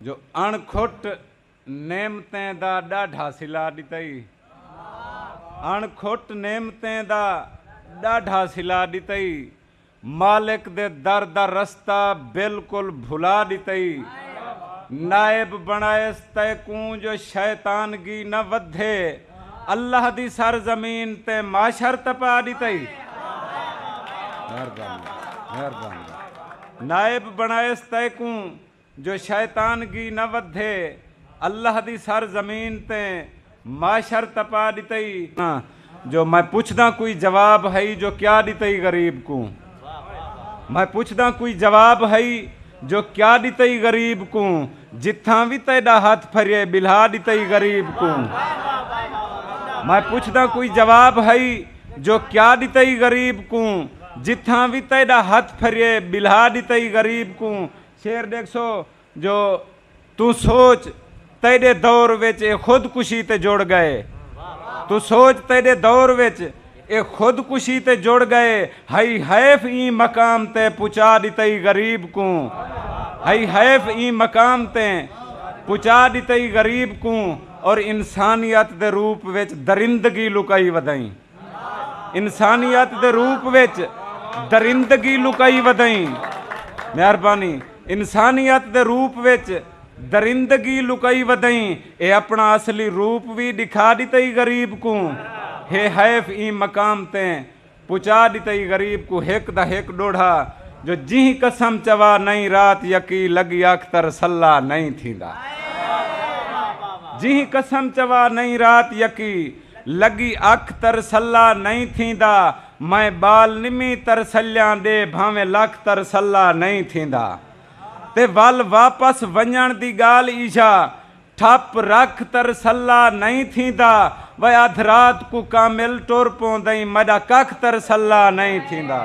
جو اݨ کھٹ نعمتیں دا ݙاڈھا صلہ ݙتئی۔ اݨ کھٹ نعمتیں دا ݙاڈھا صلہ ݙتئی۔ مالک دے در دا رستہ بالکل بھلا ݙتئی۔ نائب بݨائیس تیکوں جو شیطانگی نہ ودھے۔ اللہ دی سر زمین تے معاشر تپا ݙتئی۔ نائب بݨائیس تیکوں جو شیطان گی نہ ودھے۔ اللہ دی سر زمین تے معشر تپا ڈتئی۔ جو میں پچھداں کوئی جواب ہئی جو کیا ڈتئی غریب کوں۔ میں پچھداں کوئی جواب ہئی جو کیا ڈتئی غریب کوں۔ جتھاں وی تیڈا ہتھ پھریے بلھا ڈتئی غریب کوں۔ میں پچھداں کوئی جواب ہئی جو کیا ڈتئی غریب کوں۔ جتھاں وی تیڈا ہتھ پھریے بلھا ڈتئی غریب کوں۔ شعر ݙیکھسو جو توں سوچ تیݙے دور وچ اے خود کشی تے جڑ ڳئے توں سوچ تیݙے دور وچ اے خود کشی تے جڑ ڳئے ہئی حیف ایں مقام تے پچا ݙتئی غریب کوں ہئی حیف ایں مقام تے پچا ݙتئی غریب کوں اور انسانیت دے روپ وچ درندگی لکائی ودھئیں۔ انسانیت دے روپ وچ درندگی لکائی ودئیں مہربانی انسانیت دے روپ وچ درندگی لکائی ودئیں اے اپنا اصلی روپ وی ڈکھا ڈتئی غریب کوں ہے حیف ایں مقام تے پچا ڈتئی غریب کوں ہک دا ہک ڈوڑھا جو جیں قسم چوا نئیں رات یکی لگی اختر سلا نئیں تھیندا جیں قسم چوا نئیں رات یکی لڳی اکھ ترسلا نئیں تھیندا میں ٻال نمی ترسلیاں دے بھانویں لکھ ترسلا نئیں تھیندا تے ول واپس ونڄݨ دی ڳالھ ایجھا ٹھپ رکھ ترسلا نئیں تھیندا وے ادھ رات کوں کامل ٹر پوندئیں مݙا ککھ ترسلا نئیں تھیندا۔